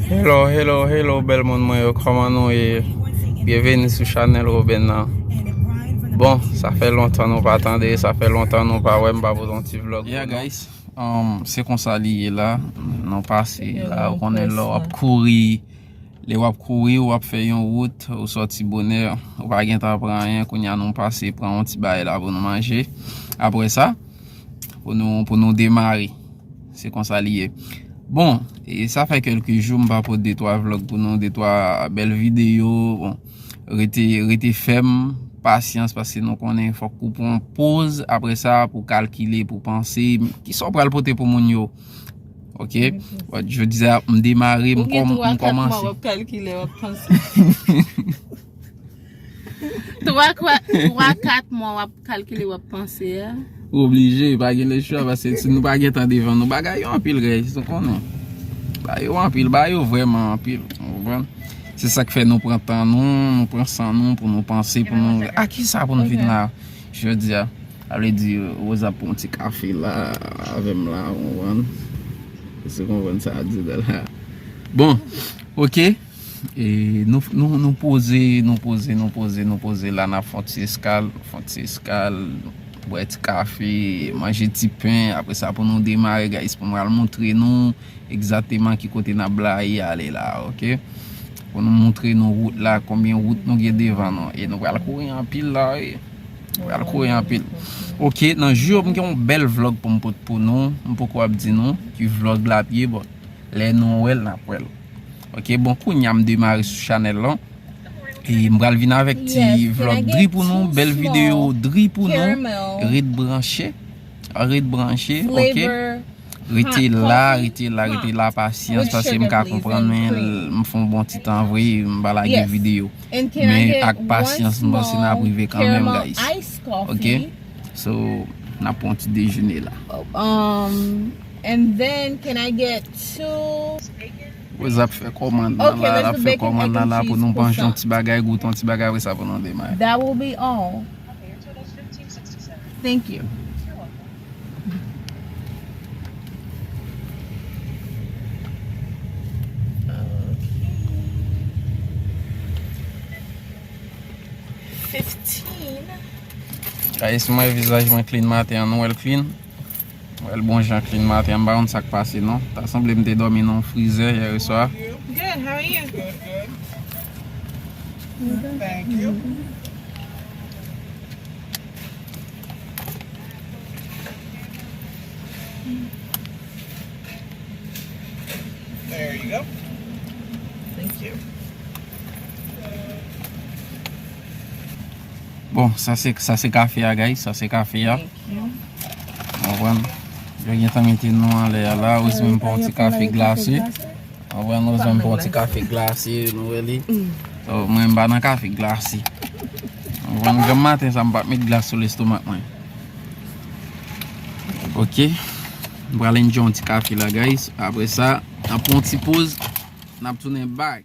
Hello hello hello bèl moun mwen yo kòman nou ye Byeveni sou chanèl Roben nan Bon sa fè lontan nou pa tande sa fè lontan nou pa wè m pa pote yon ti vlog Ya guys se konsa li ye la nou pase la ou konnen lè wap kouri lè wap kouri ou ap fè yon wout ou sòti bonè ou pa gen tan pran anyen kounye a nou pase pran yon ti bagay la pou nou manje apre sa pou nou pou nou demare. Se konsa li ye. Bon, sa fè kelke jou m pa pot de twa vlog pou nou, de twa bèl videyo. Bon, rete, rete fèm, pasyans paske nou konnen fòk pou pran poz apre sa pou kalkile, pou panse. Ki sa w pral pote pou moun yo? Ok, jodi a m demare, m kòmanse. Ou gen 3 kat mwa w ap kalkile, w ap panse. 3 kwa 3 4 mwa wap kalkile wap panse a. Ou oblije, pa gen le chwa pase si nou pa gen tan devan nou. Bagay yo anpil guys, ou konnen. Ba yo anpil, ba yo vreman anpil. Ou konprann? Se sak fè nou pran tan nou, nou pran san nou pou nou panse pou nou A ah, kisa pou nou vin la jodi a? A vle di Rosa pou yon ti kafe la avèm la, ou konprann? Ou se konprann sa a di la. Bon, ok. Nou poze, nou poze, nou poze, nou poze la nap fon ti eskal, fon ti eskal, bwè ti kafe, manje ti pen, apre sa pou nou demare guys pou mwen al montre nou egzateman ki kote nap blayi ale la ok, pou nou montre nou wout la, konbyen wout nou gen devan nou, e nou pral kouri anpil la wi, nou pral kouri anpil, ok nan jou yo m gen yon bèl vlog pou m pot pou nou, m poko ap di nou ki vlog lap ye bon lè nou wèl nap wèl. Ok bon kounya m demare sou chanel lan e m pral vin avek ti vlog dri pou nou bel video dri pou nou ret branche ret branche ok rete la rete la rete la pasyans pasyans m ka konpran men m fon bon ti tan vre m pa la gen video men ak pasyans m panse na prive kan men guys ok so na pon ti dejene la. And then can I get two. Wè zap fè kòmand nan la lap fè kòmand nan la pou nou manje yon ti bagay goute yon ti bagay wè sa pou nou demaye. That will be all Thank you Fifteen Guys si mwen vizaj mwen clean maten an nou wèl clean? Wèl bon jan klin maten an m pa konn sak pase non ta sanble m te dòmi nan yon frizè yèreswa. Good how are you? Good good thank you. There you go. Thank you. Bon, sa se, sa se kafe a guys, sa se kafe a. Anpwen, yo gen tan mete nou anlè a la, ou se menm pou an ti kafe glase. Anpwen, ou se menm pou an ti kafe glase, nou wè li. Ou mwen mba nan kafe glase. Anpwen, mwen gen maten sa mpa met glase sou lestomak mwen. Ok, mwen prale nje an ti kafe la guys. Apre sa, anpwen ti poz, nap tounen back.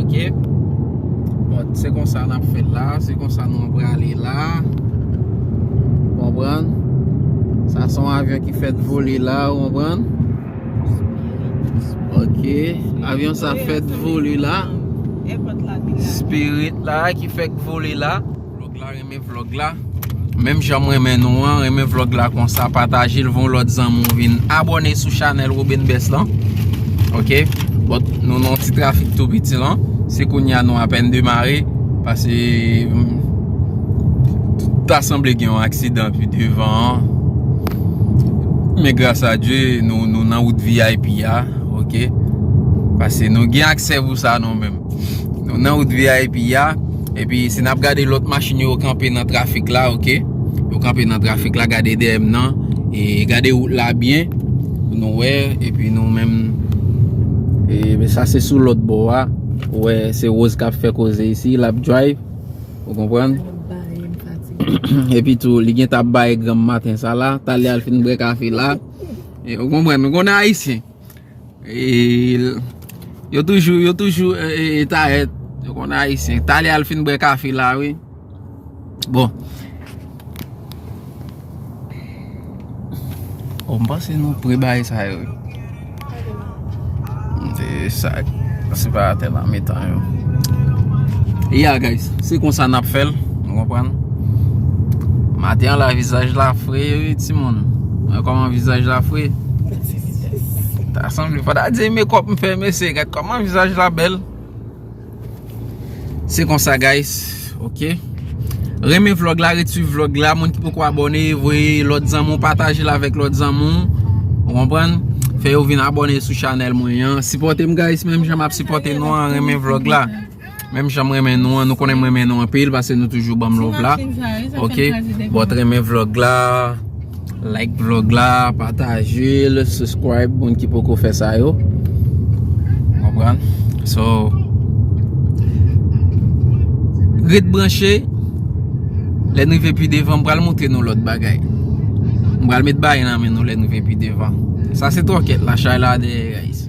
Ok Bon se konsa n ap fè l la Se konsa nou prale la Ou konprann Sa se yon avyon ki fèt vole la Ou konprann Ok Avyon sa fèt vole la Spirit la ki fèt vole la Vlog la renmen vlog la Menm jan m renmen nou an Renmen vlog la konsa Pataje l voun lòt zanmi w vin abòne sou chanèl Roben Best lan Ok Bon nou nan yon ti trafik tou piti lan Se kounye a nou apèn demare Pase Ta sanble gen yon aksidan pi devan an Men gras a Dye nou nan wout vip a Ok Pase nou gen aksè pou sa nou menm Nou nan wout vip ya Epi si nap gade lot machin yo kanpe nan trafik la ok Yo kanpe nan trafik la gade deyem nan E gade wout la byen Pou nou wè Epi nou menm E sa se sou lot bo a Ou wè se rose kap fè koze isi Lap drive Ou konprann Epi tou li gentan ap baye granm maten sa la Talè al fin bwe kafe la Ou konprann Nou konnen ayisyen Yo toujou, yo toujou Tarèt, yo konn ayisyen Talè al fin bwe kafe la wi Bon O m panse nou pre bay sa yo wi M te sa Se pa atè nan mitan yo Ya guys Se konsa n ap fè l Nou konprann Maten an la vizaj la fre wi timoun Mwen koman vizaj la fre Ta sanble pa ta di mekòp m fè mesye gad kòman vizaj la bèl Se konsa guys ok Renmen vlog la ret swiv vlog la moun ki poko abòne voye lòt zanmi w patajel avèk lòt zanmi w ou konprann fè yo vin abòne sou chanèl mwen an sipòte m guys menm jan map sipòte nou an renmen vlog la. Menm jan m renmen nou an, nou konnen m renmen nou anpil pase nou toujou banm love la. Ok, bòt renmen vlog la, like vlog la, patajel, subscribe moun ki poko fè sa yo. Konprann? So, ret branche, lè nou ve pi devan, m pral moutre nou lòt bagay. M pral met bay nan men nou lè nou ve pi devan. Sa se tòkèt la, chay la deyè guys.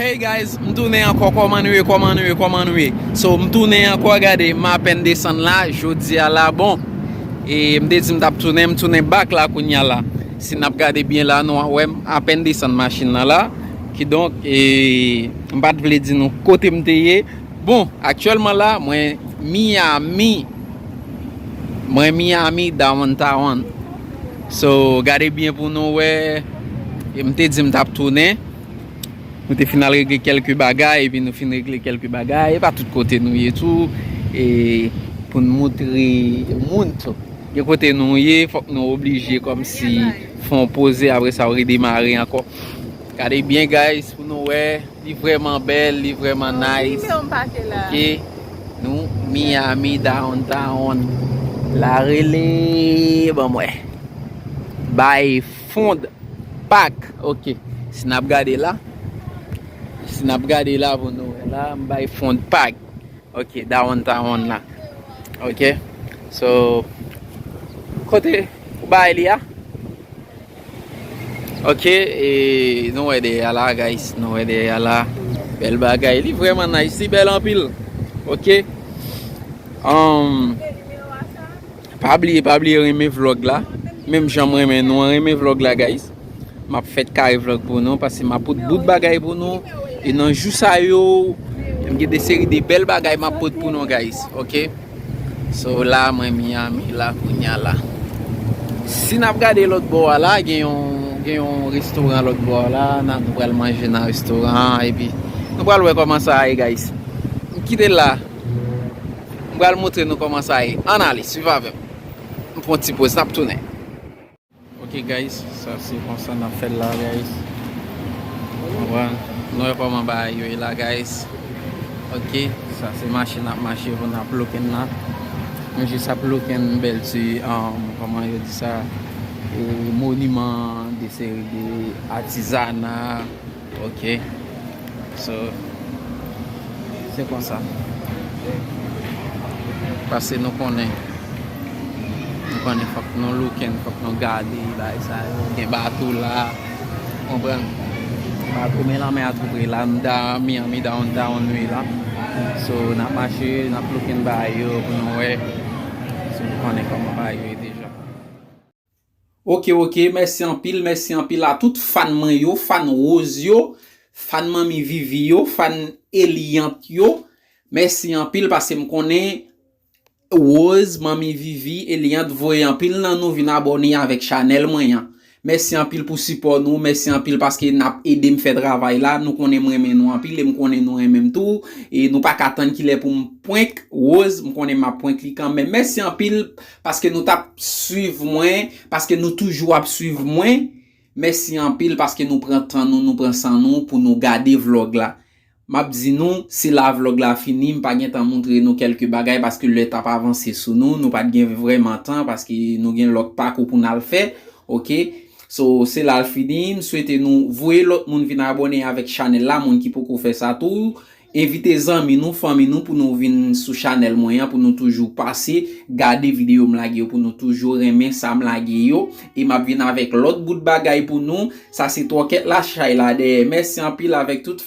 Hey guys m tounen ankò kòman nou ye kòman nou ye kòman nou ye so m tounen ankò gade m apèn desann la jodia la bon e m te di m tap tounen m tounen bak la kounya la si nap gade byen la nou wè m apèn desann machin nan la kidonk e m pat vle di nou kote m te ye bon aktyèlman la mwen miyami mwen miyami dawantawant So gade byen pou nou wè. M te di m tap tounen. Nou te fin al regle kelke bagay. Epi nou fin regle kelke bagay. E pa tout kote nou ye tou. E pou n moutre moun tou. Gen kote nou ye. Fok nou oblije kom si fon poze apre sa ou redemare anko. Gade byen guys pou nou wè li vreman bel li vreman nice ok nou Miami downtown la rele ban m wè bay fond pak ok si nap gade la si nap gade la pou nou wè la bay fond pak Ok dawonn tawonn la ok so kote ou bay li a ok e nou wè dèyè la guys nou wè dèyè la bèl bagay li vrèman nice li bèl anpil ok humm. Pa bliye pa bliye renmen vlog la Menm jan m renmen nou an renmen vlog la guys Map fè kare vlog pou nou Pase map pot bout bagay pou nou E nan jou sa yo M gen de seri de bèl bagay map pot pou nou guys Ok So la mwen Miami la kounya la Si nap gade lòt bò a la Gen yon gen yon restoran lòt bò a la Nan nou pral manje nan restoran Epi nou pral wè kòman sa a ye guys M kite la M pral montre nou koman sa ye an ale swiv avèm m pran yon ti poz nap tounen. Ok guys sa se konsa nap fèl la guys konprann nou wè koman bagay yo ye la guys ok sa se mache nap mache pou nap looking la nou jis ap looking bèl ti koman yo di sa moniman de seri de atizana. Ok so se konsa pase nou konnen nou konnen fok nou looken fok nou gade bagay sa yo gen bato la konprann bato men lanmè a tou pre la nou da miami downtown wi la so nap mache nap looken bagay yo pou nou wè si nou konnen koman bagay yo ye deja. Ok ok mèsi anpil mèsi anpil a tout fan mwen yo fan rose yo fan manmi vivi yo fan eliante yo mèsi anpil paske m konnen rose manmi vivi eliante voye anpil nan nou vin abòne avèk chanèl mwen an mèsi anpil pou sipò nou mèsi anpil paske nap edem fè travay la nou konnen m renmen nou anpil e m konnen nou renmen m tou e nou paka tann kilè pou m prank rose m konnen map prank li kanmenm mèsi anpil. Paske nou tap swiv mwen, paske nou toujou ap swiv mwen, mèsi anpil paske nou pran tan nou, nou pran san nou pou nou gade vlog la. Map di nou, se la vlog la fini, m pa gentan moutre nou kèlke bagay paske lè tap avanse sou nou, nou pat gen vrèman tan paske nou gen lòt pakou pou nal fè ok. So se lal fini, m swete nou voye lòt moun vin abòne avèk chanèl la, moun ki poko fè sa tou, Envite zanmi nou, fanmi nou pou nou vin sou chanèl mwen an pou nou toujou pase gade videyo m lage yo pou nou toujou renmen sa m lage yo e map vin avèk lòt bout bagay pou nou sa se twòkèt la chay la dèyè mèsi anpil avèk tout